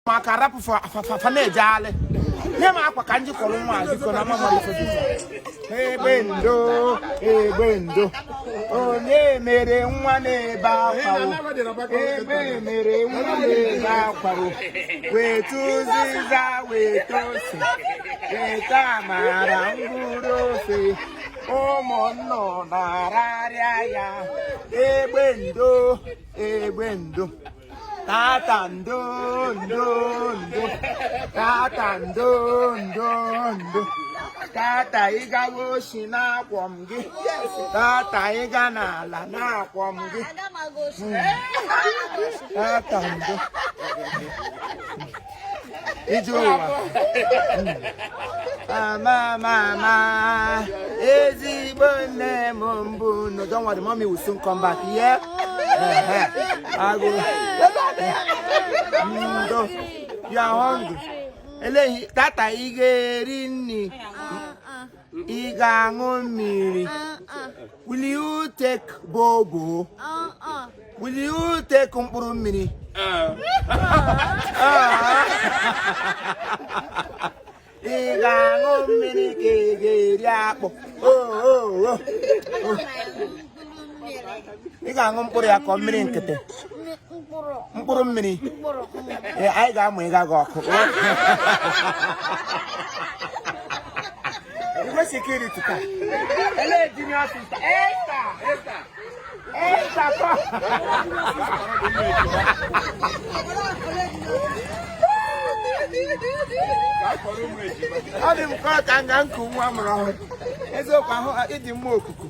ụmụaka rapụ fa na-ejegharị nye m akwa ka m ji kwọrọ nwa biko na mama egbe ndo egbe ndo onye mere nwa na-ebe akwa egbe mere nwa na-ebe akwa weta ụzịza weta ose weta amara mkpụrụ ofe ụmụ nnụnụ rarịa ya egbe ndo egbe ndo tata ndo ndo ndo tata ndo ndo ndo tata ịgawa oshi na-akwọ m gị tata ịga n'ala na-akwọ m gị tata ndo ije ụwa amamama ezigbo nne m mbụ no don't worry mommy will soon come back yeah agụ ndo you are hungry ele tata ị ga-eri nri ah, ah. ị ga-aṅụ mmiri will you take bobo will you take mkpụrụ mmiri ị ga-aṅụ mmiri ka ị ga-eri akpụ ị ga-aṅụ mkpụrụ ya ka mmiri nkịtị mkpụrụ mmiri ee anyị ga-amụ ịga gị ọkụ igwe security ka elee junior sister esther esther esther kọ ọ dị m ka ọ ka nga nku nwa amụrụ ọhụrụ eziokwu ahụ ịdị mma okuku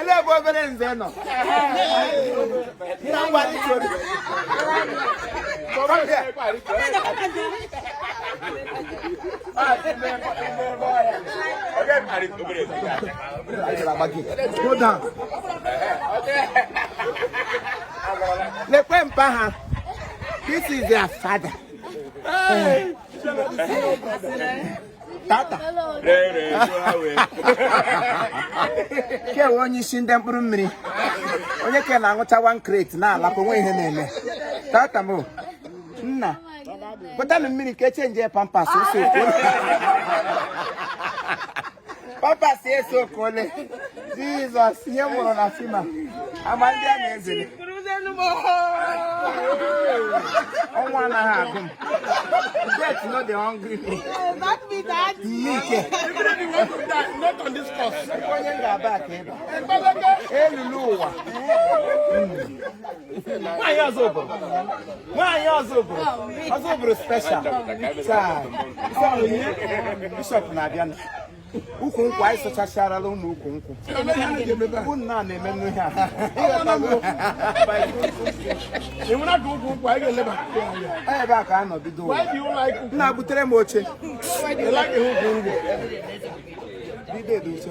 ele ebe obere nze nọ na ngwa rịtuo Go down. Lekwe mpa ha. This is their father. tata kewe onye isi ndị mkpụrụ mmiri onye ke na-aṅụcha one crate na-alapụ o nwe ihe na-eme tata m nna butanụ mmiri ka e chenjie ya pampers ose pampers esi okole jizọs ihe m mụrụ na fima ama ndị a na-ezere ọnwụ anaghị agụ m death no dey hungry me ike onye m ga-aba aka ebe elulu ụwa hmm. nwaanyị ọzọ obodo nwaanyị ọzọ obodo ọzọ obodo special taa bishọp na-abịa ukwu nkwụ anyị sụchacharala ụmụ ukwu nkwụ bụ nna a na-eme nnu ihe a ebe a ka a nọ bido nna butere m oche bido edo oche